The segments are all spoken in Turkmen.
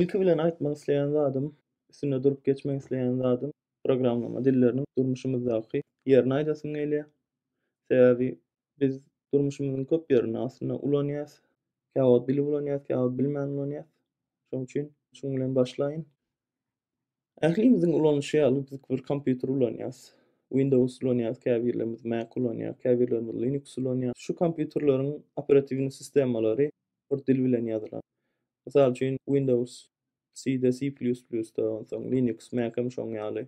Ilki bilen aýtmak isleýän zadym, üstünde durup geçmek isleýän zadym, programlama dilleriniň durmuşymyzdaky ýerini aýdasym gelýär. Sebäbi Biz durmuşymyzyň köp ýerinde aslynda ulanýarys. Kä wagt bilip ulanýarys, kä wagt bilmän ulanýarys. Şonuň üçin şuň bilen başlaýyn. Ählimiziň ulanyşy ýaly biz bir kompýuter ulanýarys. Windows ulanýarys, käbirlerimiz Mac ulanýar, käbirlerimiz Linux ulanýar. Şu kompýuterleriň operatiwny sistemalary bir dil bilen ýazylan. Mysal üçin Windows C-de, C++-da, onsoň Linux, Mac hem şoň ýaly.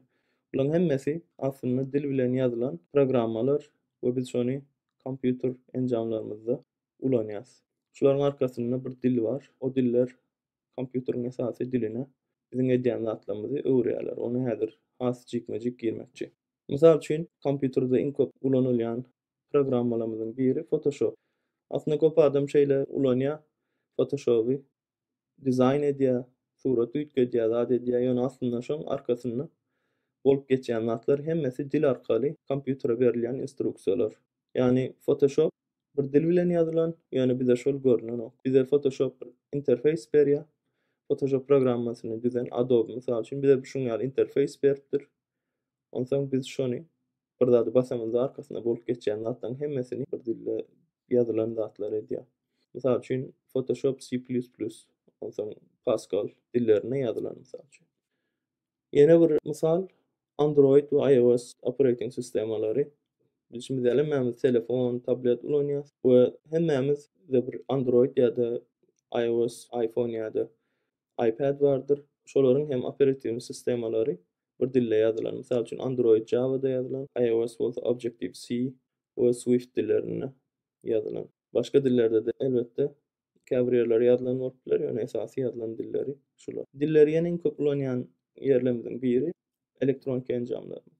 Bularyň hemmesi aslynda dil bilen ýazylan programmalar we biz şony kompýuter enjamlarymyzda ulanýarys. Şularyň arkasynda bir dil bar. O diller kompýuteriň esasy diline, biziň edýän zatlarymyzy öwürýärler. Ony häzir has jikme-jik girmekçi. Mysal üçin, kompýuterde iň köp ulanylýan programmalarymyzyň biri Photoshop. Aslynda köp adam şeýle ulanýar Photoshoby. dizaýn edýär, surat üýtgedýär, zat edýär, ýöne aslynda şoň arkasynda bolup geçýän zatlar hemmesi dil arkaly kompýutere berilýän instruksiýalar. Ýagny Photoshop bir dil bilen ýazylan, ýöne bize şol görnenok. Bize Photoshop bir interfeýs berýär. Photoshop programmasyny düzen Adobe mysal üçin bize şuň ýaly interfeýs beripdir. Onsoň biz şony bir zady basamyzda arkasyna bolup geçýän zatlaryň hemmesini bir dilde ýazylan zatlar edýär. Mysal üçin Photoshop C++, onsoň Pascal dillerinde ýazylan mysal üçin. Ýene bir mysal Android we IOS operating sistemalary. Biz şindi hemmämiz telefon, tablet ulanýas we hemmämiz-de bir Android ýa-da IOS, iPhone ýa-da iPad bardyr. Şolaryň hem operatiwni sistemalary bir dilde ýazylan. Mysal üçin, Android Java-da ýazylan, iOS bolsa Objective C we Swift dillerinde ýazylan. Başga dillerde-de, elbetde, käbir ýerleri ýazylan bolup biler, ýöne esasy ýazylan dilleri şular. Dilleri ýene iň köp ulanýan ýerlerimiziň biri elektroniki enjamlarymyz.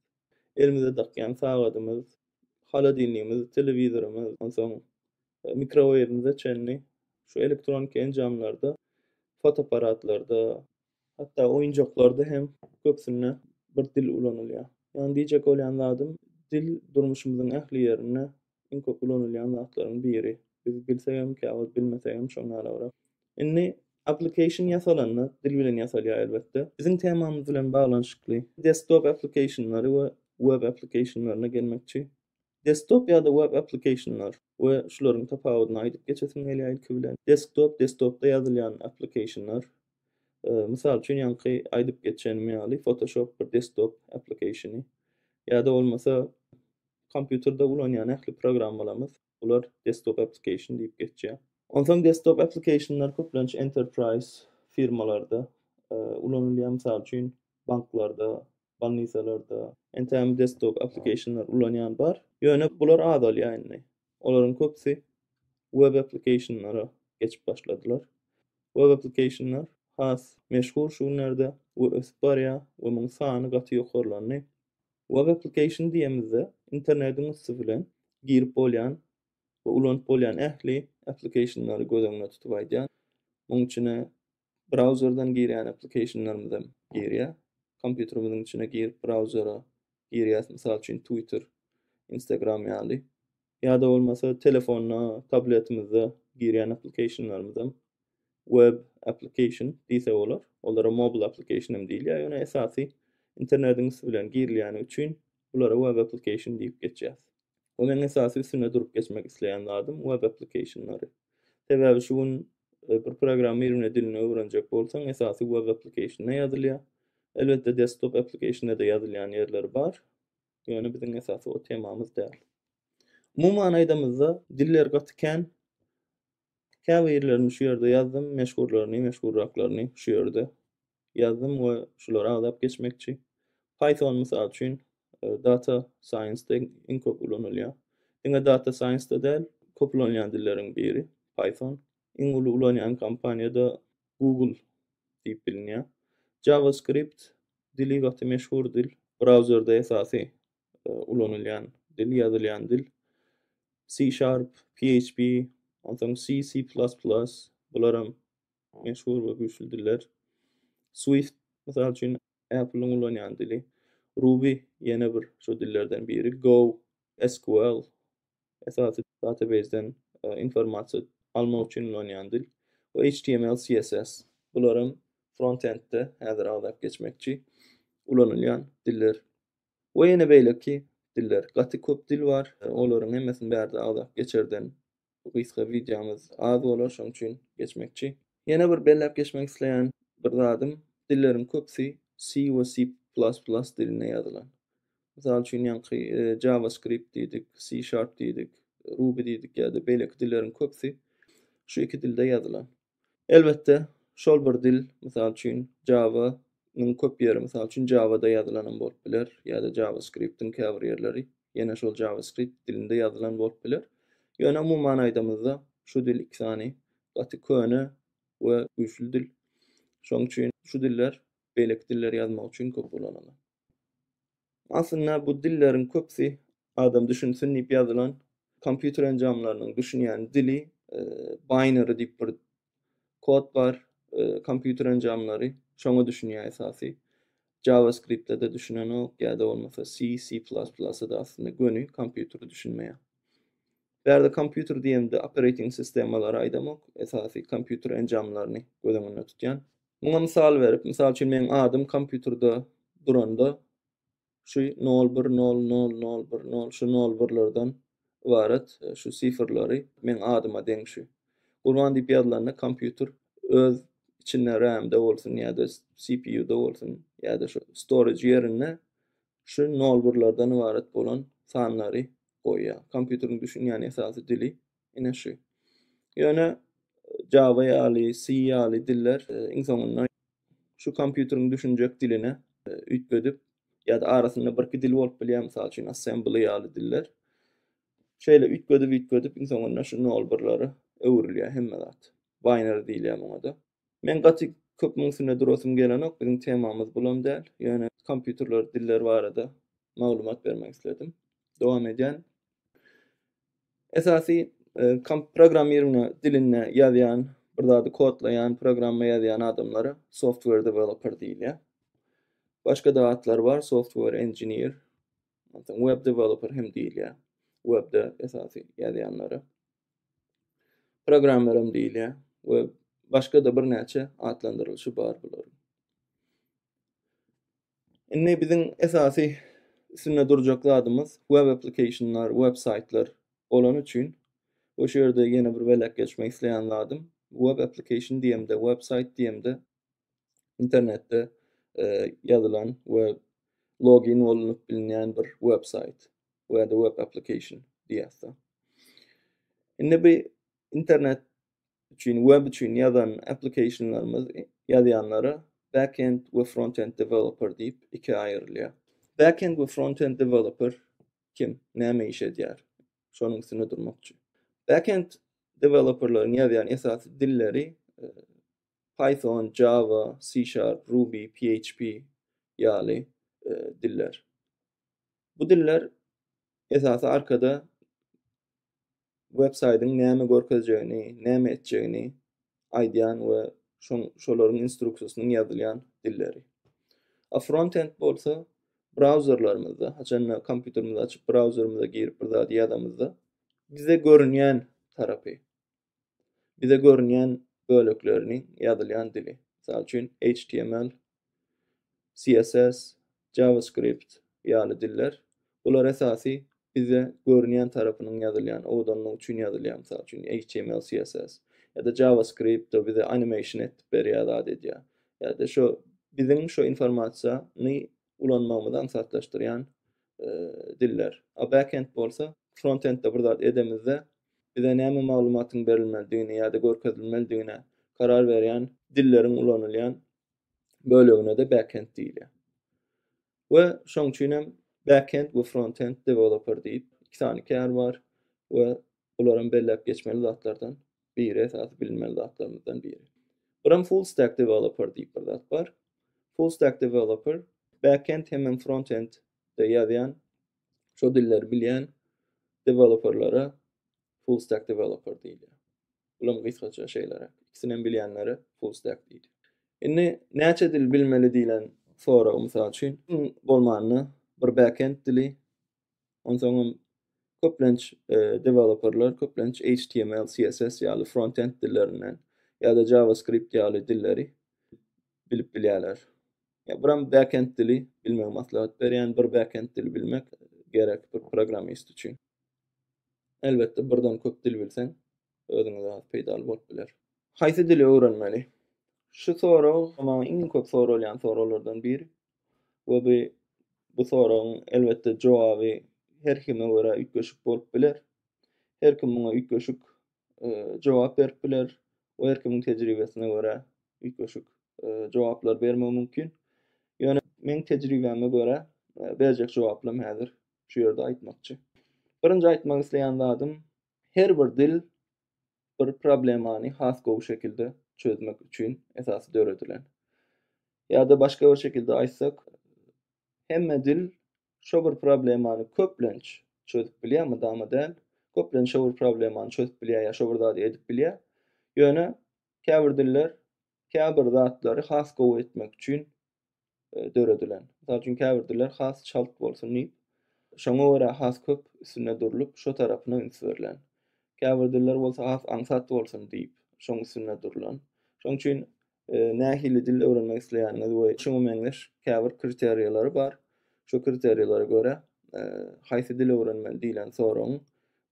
Elimize dakýan sagadymyz, holodilnigimiz, telewizorymyz, onsoň e, mikroweýwimize çenli şu elektroniki enjamlarda, fotoapparatlarda, hatda oýunjaklarda hem köpsünde bir dil ulanylýar. Ýani diýjek bolýan zadym, dil durmuşymyzyň ähli ýerinde iň köp ulanylýan zatlaryň biri. Biz bilsek hem, käwagt bilmesek hem şoň ýalabrak. Indi application ýasalanda, dil bilen ýasalýar elbetde. Biziň temamyz bilen baglanyşykly desktop applicationlary we web applicationlaryna gelmekçi. Desktop ýa-da web applikationlar we şularyň tapawudyny aýdyp geçesim gelýär ilki bilen. Desktop, desktopda ýazylýan applikationlar. Mysal üçin ýaňky aýdyp geçenim ýaly Photoshop bir desktop applikationy. Ýa-da bolmasa kompýuterde ulanýan ähli programmalarymyz bular desktop applikation diýip geçýär. Onsoň desktop applikationlar köplenç enterprise firmalarda ulanylýar. Mysal üçin banklarda Bolnisalarda entägem desktop application-lar ulanýan bar. Ýöne bular azalýar indi. Olaryň köpüsi web application-lara geçip başladylar. Web application-lar has meşhur şu günlerde we ösüp barýar we muň sany gaty ýokarlandy. Web application diýemizde internediň üsti bilen girip bolýan we ulanyp bolýan ähli application-lary göz öňüne tutup aýdýar. Muň içine Brauzerden girýän applikationlarymyzam girýär. Kompýuterimiziň içine girip brauzera girýäs, mysal üçin Twitter, Instagram ýaly. Ýa-da bolmasa telefonda, tabletimizde girýän applikationlarymyzam web application diýse bolar. Olara mobile application hem diýilýär, ýöne esasy internetiň üsti bilen girilýäni üçin Bulara web application diýip geçýär. Bu meň esasy üstünde durup geçmek isleýän zadym web application-lary. Sebäbi şu gün bir programmirowne dilini öwrenjek bolsaň esasy web application-da ýazylýar. Elbetde desktop application-da-da ýazylýan ýerleri bar. Ýöne biziň esasy o temamyz däl. Umuman aýdamyzda diller gaty kän. Käbirlerini şu ýerde ýazdym, meşhurlaryny, meşhurraklaryny şu ýerde ýazdym we şulary agzap geçmekçi. Python mysal üçin data science-de iň köp ulanylýar. Diňe data science-de däl, köp ulanylýan dilleriň biri Python. Iň uly ulanýan kompaniýada Google diýip bilinýär. JavaScript dili gaty meşhur dil. Brauzerde esasy ulanylýan dil, ýazylýan dil. C-Sharp, PHP, onsoň C, C++, bularam meşhur we güýçli diller. Swift, mysal üçin, Apple-iň ulanýan dili. Ruby ýene bir şu dillerden biri. Go, SQL, esasy database-den informasiýa almak üçin ulanýan dil we HTML, CSS. Bular hem front-end-de häzir agzap geçmekçi ulanylýan diller. We ýene beýleki diller. Gaty köp dil bar. Olaryň hemmesini bärde agzap geçerden bu gysga wideomyz az bolar, şonuň üçin geçmekçi. Ýene bir belläp geçmek isleýän bir zadym, dilleriň köpüsi C we C++ dilinde ýazylan. Mysal üçin ýaňky JavaScript diýdik, C Sharp diýdik, Ruby diýdik ýa-da beýleki dilleriň köpüsi şu iki dilde ýazylan. Elbetde, şol bir dil, mysal üçin, Java, nyň köp ýeri, mysal üçin, Java-da ýazylanam bolup biler, ýa-da JavaScript-iň käbir ýerleri ýene şol JavaScript dilinde ýazylan bolup biler. Ýöne umuman aýdamyzda, şu dil iki sany gaty köne we güýçli dil. Şonuň üçin şu diller beýleki dilleri ýazmak üçin köp ulanylar. Aslynda bu dilleriň köpsi adam düşünsin diýip ýazylan kompýuter enjamlarynyň düşünýän dili binary diýip bir kod bar kompýuter enjamlary şoňa düşünýär esasy JavaScript-de düşünenok ýa-da bolmasa C C++ da aslynda göni kompýuter düşünmeýär. Bärde kompýuter diýemde operating sistemalary aýdamok esasy kompýuter enjamlaryny göz öňünde tutýan. Muňa mysal berip, mysal üçin meň adym kompýuterde duranda şu nol bir nol nol nol bir nol şu nol birlerden ybarat şu sifrleri meň adyma deň şu. Gurban diýip ýazylanda kompýuter öz içinde RAM-de bolsun ýa-da CPU-da bolsun ýa-da şu storage ýerinde şu nol birlerden ybarat bolan sanlary goýýar. Kompýuteriň düşünýän esasy dili Ine şu. Ýöne Java ýaly, C ýaly diller e, iň soňunda şu kompýuteriň düşünjek diline e, üýtgedip ýa-da arasynda birki dil bolup bilýär, mysal üçin assembly ýaly diller. Şeýle üýtgedip-üýtgedip iň soňunda şu nol birlere öwrülýär hemme zat. Binary diýilýär muňa-da. Men gaty köp muň üstünde durasym gelenok, biziň temamyz bulam däl, ýöne kompýuterler, diller barada maglumat bermek isledim. Dowam edýän. Esasy komp programmirowna dilinde ýazýan, bir zady kodlaýan, programma ýazýan adamlara software developer diýilýär. Başga-da atlar bar, software engineer, web developer hem diýilýär. Webde esasy ýazýanlara. Programmer hem diýilýär we başga-da birnäçe atlandyrylyşy bar bularyň. Indi biziň esasy üstünde durjak zadymyz web applicationlar, web saýtlar bolany üçin we şu ýerde ýene bir beläk geçmek isleýän zadym web application diýemde, web saýt diýemde internetde e, ýazylan we login bolnup bilinýän bir web saýt. we the web application diýäsde. Indi bu internet üçin, web üçin ýazan applicationlarymyz ýazýanlara backend we frontend developer diýip iki aýrylýar. Backend we frontend developer kim, näme iş edýär? Şonuň üstünde durmakçy. Backend developerlaryň ýazýan esasy dilleri e, Python, Java, C Sharp, Ruby, PHP ýaly e, diller. Bu diller esasy arkada websaýtyň näme görkezjegini, näme etjegini aýdýan we şoň şolaryň instruksiýasynyň ýazylýan dilleri. A frontend bolsa brauzerlarymyzda, haçanda kompýuterimizi açyp brauzerimize girip bir zady ýazamyzda bize görünýän tarapy. bize görünýän böleklerini ýazylýan dili. Mysal üçin HTML, CSS, JavaScript ýaly diller. Bular esasy bize görünýän tarapynyň ýazylýan owadanlygy üçin ýazylýar. Mysal üçin HTML, CSS ýa-da JavaScript o bize animation etdip berýär zat edýär. Ýa-da şo biziň şo informasiýany ulanmagymyzy aňsatlaşdyrýan diller. A backend bolsa, frontendde bir zat edemizde, bize näme maglumatyň berilmelidigini ýa-da görkezilmelidigine karar berýän dilleriň ulanylýan bölegine-de backend diýilýär. We şoň üçin hem backend we frontend developer diýip iki sany kär bar we olar hem belläp geçmeli zatlardan biri esasy bilinmeli zatlarymyzdan biri. Bir hem full stack developer diýip bir zat bar. Full stack developer backend hemem frontend de ýazýan, şo dilleri bilýän developerlere full stack developer diýilýär. Bulam gysgaça şeýleräk. Ikisini hem bilýänlere full stack diýilýär. Indi näçe dil bilmeli diýlen sorag mysal üçin bolmanda bir backend dili, Onsoňam köplenç e, deweloperler köplenç HTML, CSS ýaly frontend dillerinden ýa-da JavaScript ýaly dilleri bilip bilýärler. Ya biram backend dili bilmegi maslahat berýän, bir backend dili bilmek gerek bir programmist üçin. Elbetde birden köp dil bilseň, özüňe zat peýdaly bolup biler. Haýsy dili öwrenmeli? Şu sorag maňa iň köp soralýan soraglardan biri. we bu bu soragyň elbetde jogaby her kime görä üýtgeşik bolup biler. Her kim muňa üýtgeşik e, jogap berip biler we her kimiň tejribesine görä üýtgeşik e, jogaplar bermegi mümkin. Ýöne meň tejribäme görä e, berjek jogaplam häzir şu ýerde aýtmakçy. Birinji aýtmak isleýän zadym, her bir dil bir problemany has gowy şekilde çözmek üçin esasy döredilen. Ýa-da başga bir şekilde aýtsak, hemme dil şo bir problemany köplenç çözüp bilýär, mydama däl, köplenç şo bir problemany çözüp bilýär ýa şo bir zady edip bilýär. Ýöne käbir diller käbir zatlary has gowy etmek üçin e, döredilen. Mysal üçin käbir diller has çalt bolsun diýip, şoňa görä has köp üstünde durlup, şo tarapyna üns berlen. Käbir diller bolsa has aňsat bolsun diýip, şoň üstünde durlan. Şoň üçin e, nähili dil öwrenmek isleýäniňiz we şoňa meňzeş käbir kriteriýalary bar. Şo kriteriýalara görä e, haýsy dil öwrenmeli diýlen soragyň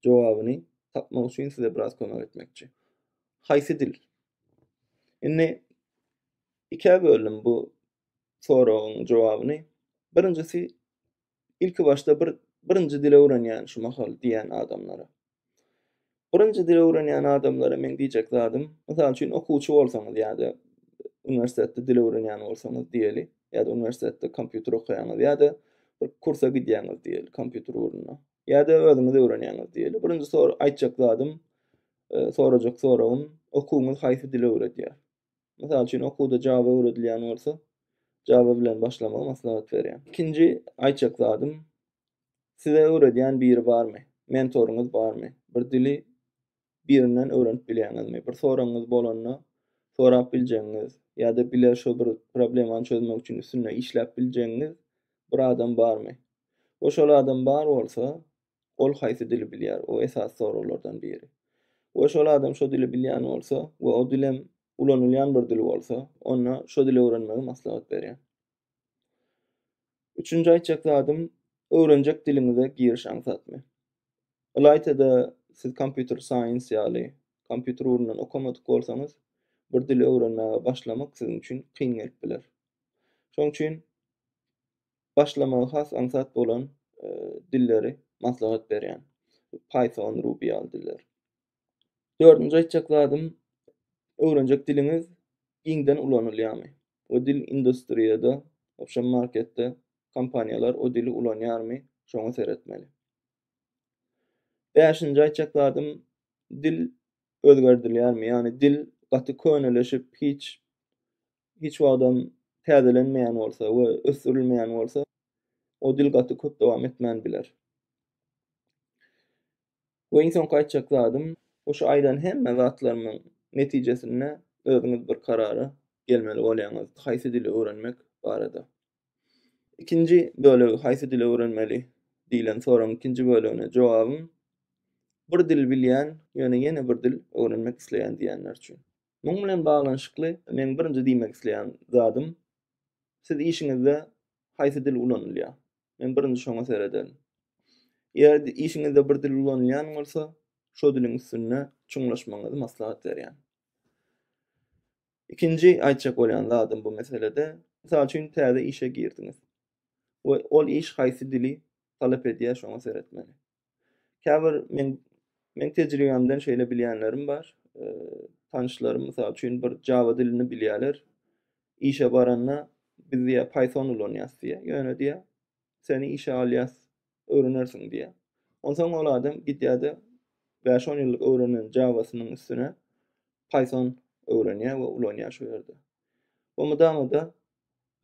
jogabyny tapmak üçin size biraz kömek etmekçi. Haýsy dil? Indi Ikä böldüm bu soragyň jogabyny. Birinjisi ilki başda bir birinji dil öwrenýän şu mahal diýen adamlara. Birinji dil öwrenýän adamlara meň diýjek zadym, mysal üçin okuwçy bolsaňyz ýa-da uniwersitetde dil öwrenýän bolsaňyz diýeli, ýa-da uniwersitetde kompýuter okaýaňyz ýa-da bir kursa gidýäňiz diýeli kompýuter ugruna, ýa-da özüňiz öwrenýäňiz diýeli. Birinji sor aýtjak zadym, sorajak soragym, okuwyňyz haýsy dili öwredýär? Mysal üçin, okuwda Java öwredilýän bolsa, Java bilen başlamagy maslahat berýän. Ikinji aýtjak zadym, size öwredýän biri barmy? Mentoryňyz barmy? Bir dili birinden öwrenip bilýäňizmi? Bir soragyňyz bolanda, sorap biljegiňiz ýa-da bile şo bir problemany çözmek üçin üstünde işläp biljegiňiz bir adam barmy? We şol adam bar bolsa, Ol haýsy dili bilýär? O esasy soraglardan biri. We şol adam şo dili bilýän bolsa we o dilem ulanylýan bir dil bolsa, onda şo dili öwrenmegi maslahat berýän. Üçünji aýtjak zadym, öwrenjek diliňize giriş aňsatmy? Ylaýta-da siz kompýuter saýens ýaly kompýuter ugrundan okamadyk bolsaňyz, bir dili öwrenmäge başlamak siziň üçin kyn gelip biler. Şonuň üçin başlamagy has aňsat bolan dilleri maslahat berýän. Python, Ruby ýaly diller. Dördünji aýtjak zadym, öwrenjek diliňiz giňden ulanylýarmy? O dil industriýada, opşam marketde kompaniýalar o dili ulanýarmy? Şoňa seretmeli. Bäşinji aýtjak zadym, dil özgerdilýärmi? Ýagny dil gaty köneleşip, hiç hiç wagtam täzelenmeýän bolsa we ösdürilmeýän bolsa, o dil gaty köp dowam etmän biler. We iň soňky aýtjak zadym, bu şu aýdan hemme zatlarymyň netijesinde özüňiz bir karara gelmeli bolýaňyz, haýsy dili öwrenmek barada. Ikinji bölegi, haýsy dili öwrenmeli diýlen soragyň ikinji bölegine jogabym, bir dil bilýän, ýöne ýene bir dil öwrenmek isleýän diýenler üçin. Muň bilen baglanyşykly meň birinji diýmek isleýän zadym, siz işiňizde haýsy dil ulanylýar? Men birinji şoňa serederin. Eger işiňizde bir dil ulanylýan bolsa, şo diliň üstünde çuňlaşmagyňyzy maslahat berýän. Ikinji aýtjak bolýan zadym bu meselede, mysal üçin täze işe girdiňiz we ol iş haýsy dili talap edýär şoňa seretmeli. Käbir men men tejribämden şeýle bilýänlerim bar. Tanyşlarym mysal üçin bir Java dilini bilýärler. Işe baranda biz diýä Python ulanýas diýä. Ýöne diýä seni işe alýas, öwrenersiň diýä. Onsoň ol adam gidýärde 5-10 ýyllyk öwrenen Java-synyň üstüne Python öwrenýär we ulanýar şu ýerde. Bu mydama-da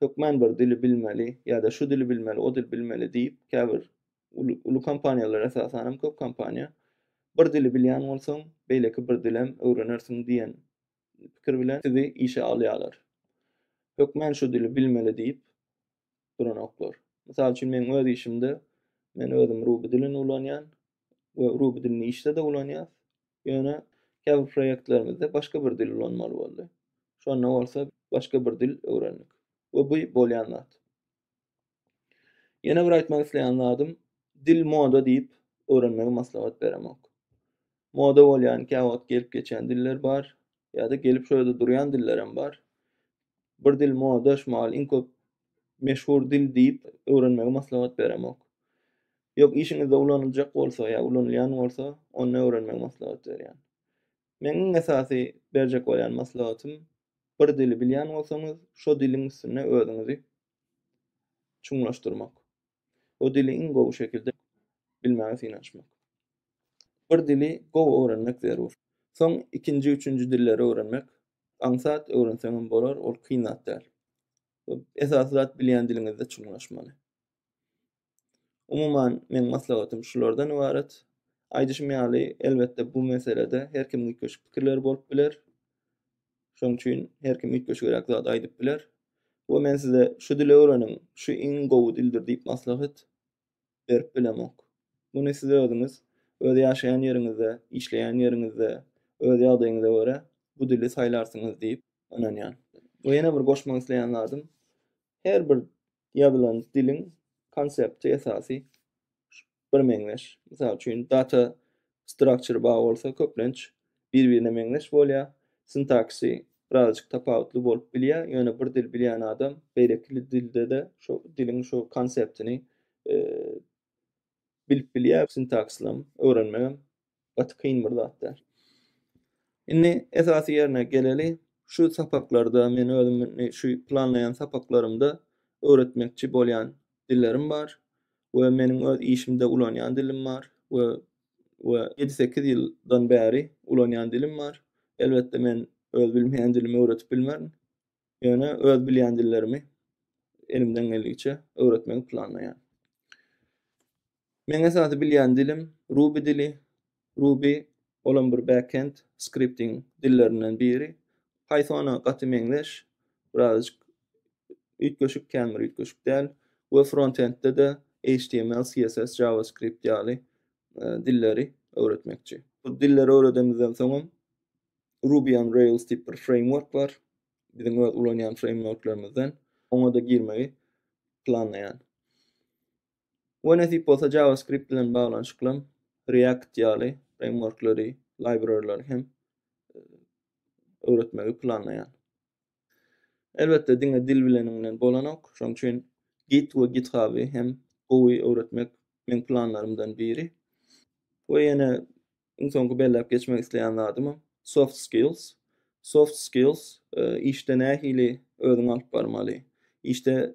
hökman bir dili bilmeli ýa-da şu dili bilmeli, o dili bilmeli diýip, käbir uly, uly kompaniýalar esasan hem köp kompaniýa bir dili bilýän bolsaň, beýleki bir dil hem öwrenersiň diýen pikir bilen sizi işe alýarlar. Hökmän şu dili bilmeli diýip duranoklar. Mysal üçin meň öz işimde men özüm Ruby dilini ulanýan we Ruby dilini işde-de ulanýas. Ýöne käbir proýektlerimizde başga bir dil ulanmaly boldy. Şonda bolsa başga bir dil öwrendik we bu bolýan zat. Ýene bir aýtmak isleýän zadym, dil moda diýip, öwrenmegi maslahat beremok. Moda bolýan käwagt gelip geçýän diller bar, ýa-da gelip şo ýerde durýan dillerem bar. Bir dil moda, şu mahal iň köp meşhur dil diýip, öwrenmegi maslahat beremok. Ýok, işiňizde ulanyljak bolsa ýa ulanylýan bolsa, onda öwrenmegi maslahat berýän. Meň iň esasy berjek bolýan maslahatym, Bir dili bilýän bolsaňyz, şo diliň üstünde özüňizi çuňlaşdyrmak. O dili iň gowy şekilde bilmäge synanyşmak. Bir dili gowy öwrenmek zerur. Soň ikinji, üçünji dilleri öwrenmek. Aňsat öwrenseňem bolar, ol kyn zat däl. Esasy zat bilýän diliňizde çuňlaşmaly. Umuman, meň maslahatym şulardan ybarat. Aýdyşym ýaly, elbetde, bu meselede her kimiň üýtgeşik pikirleri bolup biler. Şonuň üçin her kim üýtgeşigräk zat aýdyp biler. We men size şu dili öwreniň, şu iň gowy dildir diýip maslahat berip bilemok. Muny siz özüňiz, öz ýaşaýan ýeriňizde, işleýän ýeriňizde, öz ýagdaýyňyza görä bu dili saýlarsyňyz diýip ynanýan. We ýene bir goşmak isleýän zadym, her bir ýazylan diliň konsepti esasy birmeňzeş. Mysal üçin, data structure bar bolsa, köplenç bir-birine meňzeş bolýar. Sintaksy birazajyk tapawutly bolup bilýär, ýöne bir dil bilýän adam beýleki dilde-de şo diliň şo konseptini bilip bilýär sintakslam öwrenmegem gaty kyn bir zat däl. Indi esasy ýerine geleli, şu sapaklarda men özüm indi şu planlaýan sapaklarymda öwretmekçi bolýan dillerim bar we meniň öz işimde ulanýan dilim bar we we ýedi sekiz ýyldan bäri ulanýan dilim bar. Elbetde men öz bilmeýän dilimi öwretip bilmerin. Ýöne öz bilýän dillerimi elimden geldigiçe öwretmegi planlaýan. Meň esasy bilýän dilim Ruby dili. Ruby olam bir backend skripting dillerinden biri. Pythona gaty meňzeş. Birazajyk üýtgeşik, kän bir üýtgeşik däl. We frontendde de HTML, CSS, JavaScript ýaly e, dilleri öwretmekçi. Bu dilleri öwredemizden soňam Ruby on Rails diýip bir framework bar. Biziň öz ulanýan frameworklarymyzdan oňa-da girmegi planlaýan. We nesip bolsa JavaScript bilen baglanyşykly React ýaly frameworklary, library-lary hem e, öwretmegi planlaýan. Elbetde diňe dil bileniň bilen bolanok, şoň üçin Git we Githaby hem gowy öwretmek meň planlarymdan biri. We ýene iň soňky belläp geçmek isleýän zadymam soft skills. Soft skills işde nähili özüňi alyp barmaly, işde